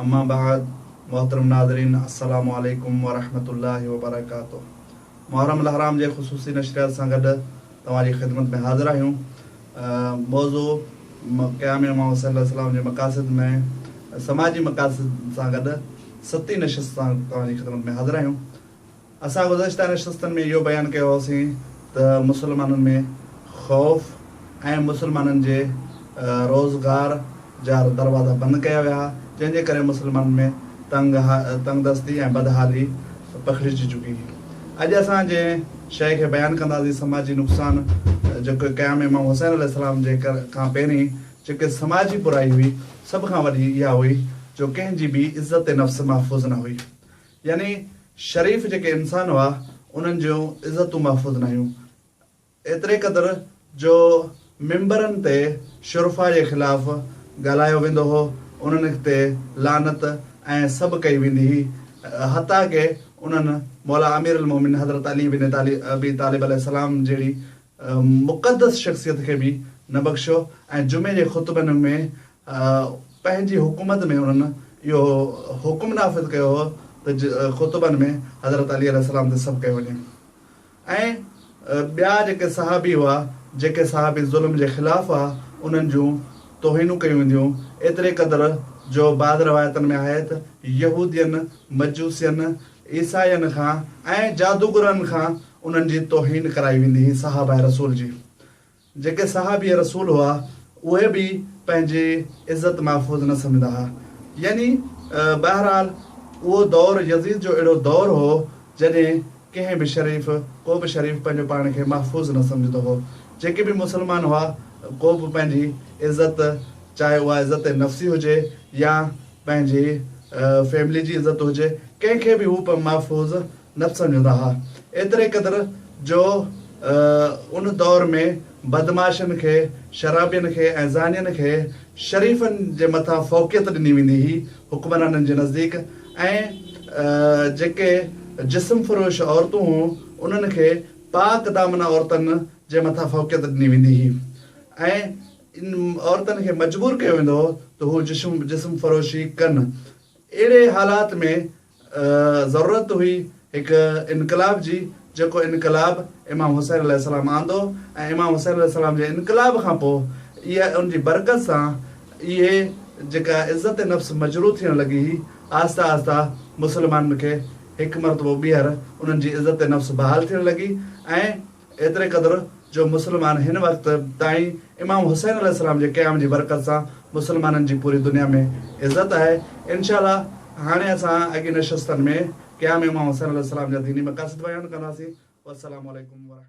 اما بعد محترم ناظرين السلام عليڪم ورحمة الله وبرڪاته محرم الحرام جي خصوصي نشريات سان گڏ توهان جي خدمت ۾ حاضر آهيون موضوع قيام امام حسين عليه السلام جي مقاصد ۾ سماجي مقاصد سان گڏ ستين نشست سان توهان جي خدمت ۾ حاضر آهيون. اسان گذشته نشستن ۾ اهو بيان ڪيو هوسين ته مسلمانن ۾ خوف ۽ مسلمانن جي روزگار جا دروازا بند ڪيا ويا جنهن جي ڪري مسلمانن ۾ تنگ دستي ۽ بدحالي پکڙجي چڪي هئي. اڄ اسان جنهن شيء کي بيان ڪنداسين سماجي نقصان جيڪو قيام امام حسين عليه السلام جي کان پهرين جيڪي سماجي برائي هئي سڀ کان وڏي اها هئي جو ڪنهن جي به عزت نفس محفوظ نه هئي يعني شريف جيڪي انسان هئا، انهن جون عزتون محفوظ نه هيون. ايتري قدر جو منبرن تي شرفاء جي خلاف ڳالهايو ويندو هو، انهن تي لعنت ۽ سب ڪئي ويندي هئي، حتيٰ ڪه انهن مولا امير المؤمنين حضرت علي بن ابي طالب عليه السلام جهڙي مقدس شخصيت کي به نه بخشيو ۽ جمعي جي خطبن ۾ پنهنجي حڪومت ۾ انهن اهو حڪم نافذ ڪيو هو ته خطبن ۾ حضرت علي عليه السلام تي سب ڪيو وڃي ۽ ٻيا جيڪي صحابي هئا جيڪي صحابي ظلم جي خلاف هئا انهن جون توهينون ڪيون وينديون ايتري قدر جو بعض روايتن ۾ آهي ته يهودين مجوسين عيسائين کان ۽ جادوگرن کان انهن جي توهين ڪرائي ويندي هئي صحابه رسول جي جيڪي صحابي رسول هئا اهي به پنهنجي عزت محفوظ نه سمجهندا ها يعني بهرحال اهو دور يزيد جو اهڙو دور هو جڏهن ڪنهن به شريف ڪو به شريف پنهنجو پاڻ کي محفوظ نه سمجهندو هو جيڪي به مسلمان هئا ڪو به پنهنجي عزت چاهي اها عزت نفسي هجي يا پنهنجي فيملي جي عزت هجي ڪنهن کي به هو محفوظ نٿ سمجهندا ها، ايتري قدر جو ان دور ۾ بدمعاشن کي، شرابين کي ۽ زانين کي شريفن جي مٿان فوقيت ڏني ويندي هئي، حڪمرانن جي نزديڪ ۽ جيڪي جسم فروش عورتون هون انهن کي پاڪ دامنه عورتن جي مٿان فوقيت ڏني ويندي هئي ۽ ان عورتن کي مجبور ڪيو ويندو هو ته هو جسم فروشي ڪن اهڙي حالات ۾ ضرورت هئي هڪ انقلاب جي جيڪو انقلاب امام حسين عليه السلام آندو ۽ امام حسين عليه السلام جي انقلاب کان پوء اها ان جي برڪت سان اهي جيڪا عزت نفس مجروح ٿيڻ لڳي هئي آهسته آهسته مسلمانن کي هڪ مرتبو ٻيهر انهن جي عزت نفس بحال ٿيڻ لڳي ۽ ايتري قدر جو مسلمان هن وقت تائين امام حسين عليه السلام جي قيام جي برڪت سان مسلمانن جي پوري دنيا ۾ عزت آهي. انشاء الله هاڻي اسان اڳين نشستن ۾ قيام امام حسين عليه السلام جا ديني مقاصد بيان ڪنداسين. والسلام عليڪم ورحمة.